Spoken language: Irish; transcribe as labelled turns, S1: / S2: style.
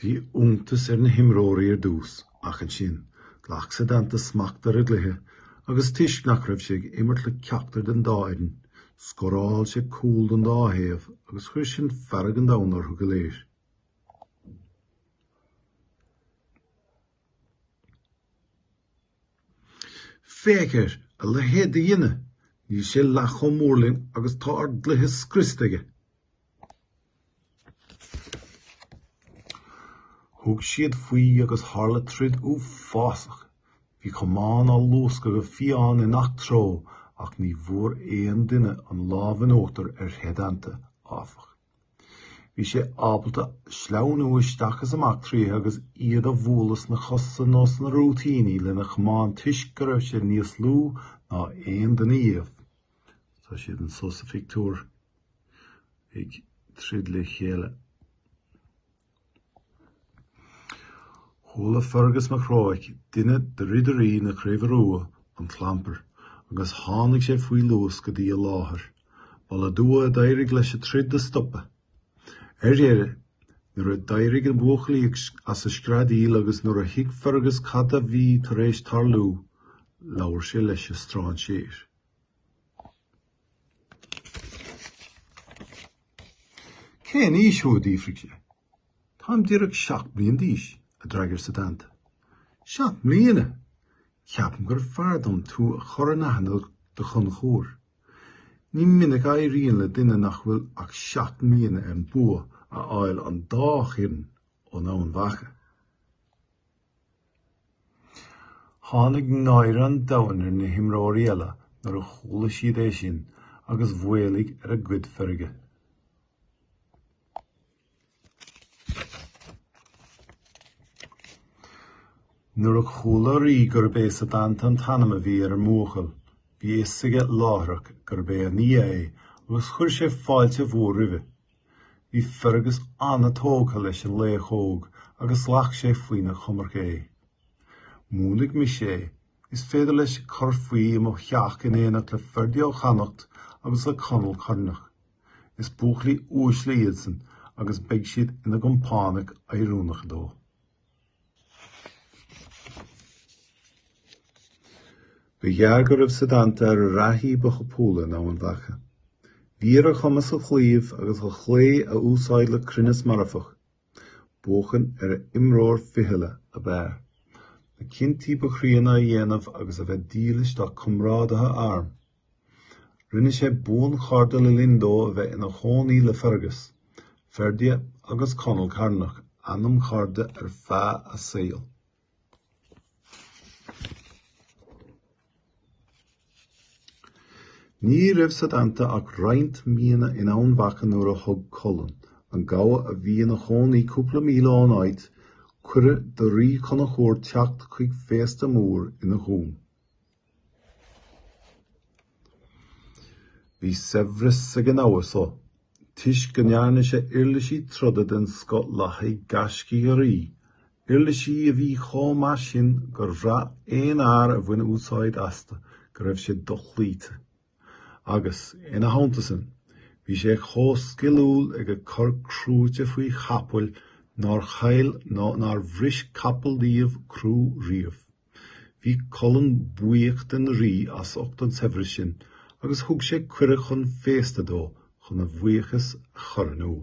S1: Bhí iontas ar na himreoirí ar dtús, ach ansin, ghlac Setanta smacht ar an gcluiche agus toisc nach raibh sé ag imirt le ceachtar den dá fhoireann, scóráil sé cúl don dá thaobh agus chuir sin fearg an domhain orthu go léir. Féach ar, a leithéid de dhuine. Níl sé leath chomh mór linn agus tá ár gcluiche scriosta aige. Thug siad faoi agus tharla troid uafásach. Bhí camáin á luascadh go fiáin i ngach treo ach ní bhfuair aon duine an lámh in uachtar ar Shetanta, áfach. Bhí sé ábalta sleamhnú isteach is amach tríothu agus iad a bhualadh sna cosa nó sna rúitíní lena chamán toisc go raibh sé níos lú ná aon duine dhíobh. Tá siad anso sa phictiúr ag troid le chéile. Chuala Fergus Mac Róich, duine de ridirí na Craoibhe Rua, an clampar agus tháinig sé faoi luas go dtí an láthair. Ba le dua a d'éirigh leis an troid a stopadh. Ar dheireadh, nuair a d'éirigh na buachaillí as an screadaíl agus nuair a thuig Fergus cad a bhí tar éis tarlú, labhair sé leis an stráinséir. Cén aois thú, a d'fhiafraigh sé. Táim díreach seacht mbliain d'aois, a d'fhreagair Setanta. Seacht mbliana! Ceapaim gurbh fhearr dom tú a chur in aithne do Chonchúr. Ní minic a éiríonn le duine nach bhfuil ach seacht mbliana an bua a fháil don dá thaobh in Eamhain Mhacha. Tháinig náire an domhain ar na himreoirí eile nuair a chuala siad é sin agus mhaolaigh ar a gcuid feirge. Nuair a chuala an rí gurb é Setanta an t-ainm a bhí ar an mbuachaill, bhí a fhios aige láithreach gurb é a nia é agus chuir sé fáilte mhór roimhe. Bhí Fergus an-tógtha leis an laoch óg agus ghlac sé faoina choimirce é. Múinfidh mise é. Is féidir leis cur faoi i mo theach in éineacht le Ferdia ó Chonnachta agus le Conall Cearnach. Is buachaillí uaisle iadsan agus beidh siad ina gcompánaigh oiriúnacha dó. Ba ghearr go raibh Setanta ar an reathaí ba thapúla in Eamhain Mhacha. Bhí ar a chumas a chlaíomh agus a shleá a úsáid le cruinneas marfach. Buachan ar an imreoir fichille ab fhearr. Na cinntí ba chríonna a dhéanamh agus a bheith dílis dá chomrádaithe airm. Rinne sé buanchairde le linn dó a bheith ina chónaí le Fergus, Ferdia agus Conall Cearnach, anamchairde ar feadh a saoil. Ní raibh Setanta ach roinnt míonna in Eamhain Mhacha nuair a thug Culann, an gabha a bhí ina chónaí cúpla míle ón áit, cuireadh don rí Conchúr teacht chuig féasta mór ina dhún. Bhí saibhreas ag an ngabha so, toisc go ndearna sé uirlisí troda den scoth le haghaidh gaiscígh an rí, uirlisí a bhí chomh maith sin gur bhraith aon fhear a bhain úsáid astu go raibh sé dochloíte. Agus, ina theannta san, bhí sé chomh sciliúil ag cur crúite faoi chapaill nár chaill ná nár bhris capall díobh crú riamh. Bhí Culann buíoch den Rí as ucht an tsaibhris sin agus thug sé cuireadh chun féasta dó chun a bhuíochas a chur in iúl.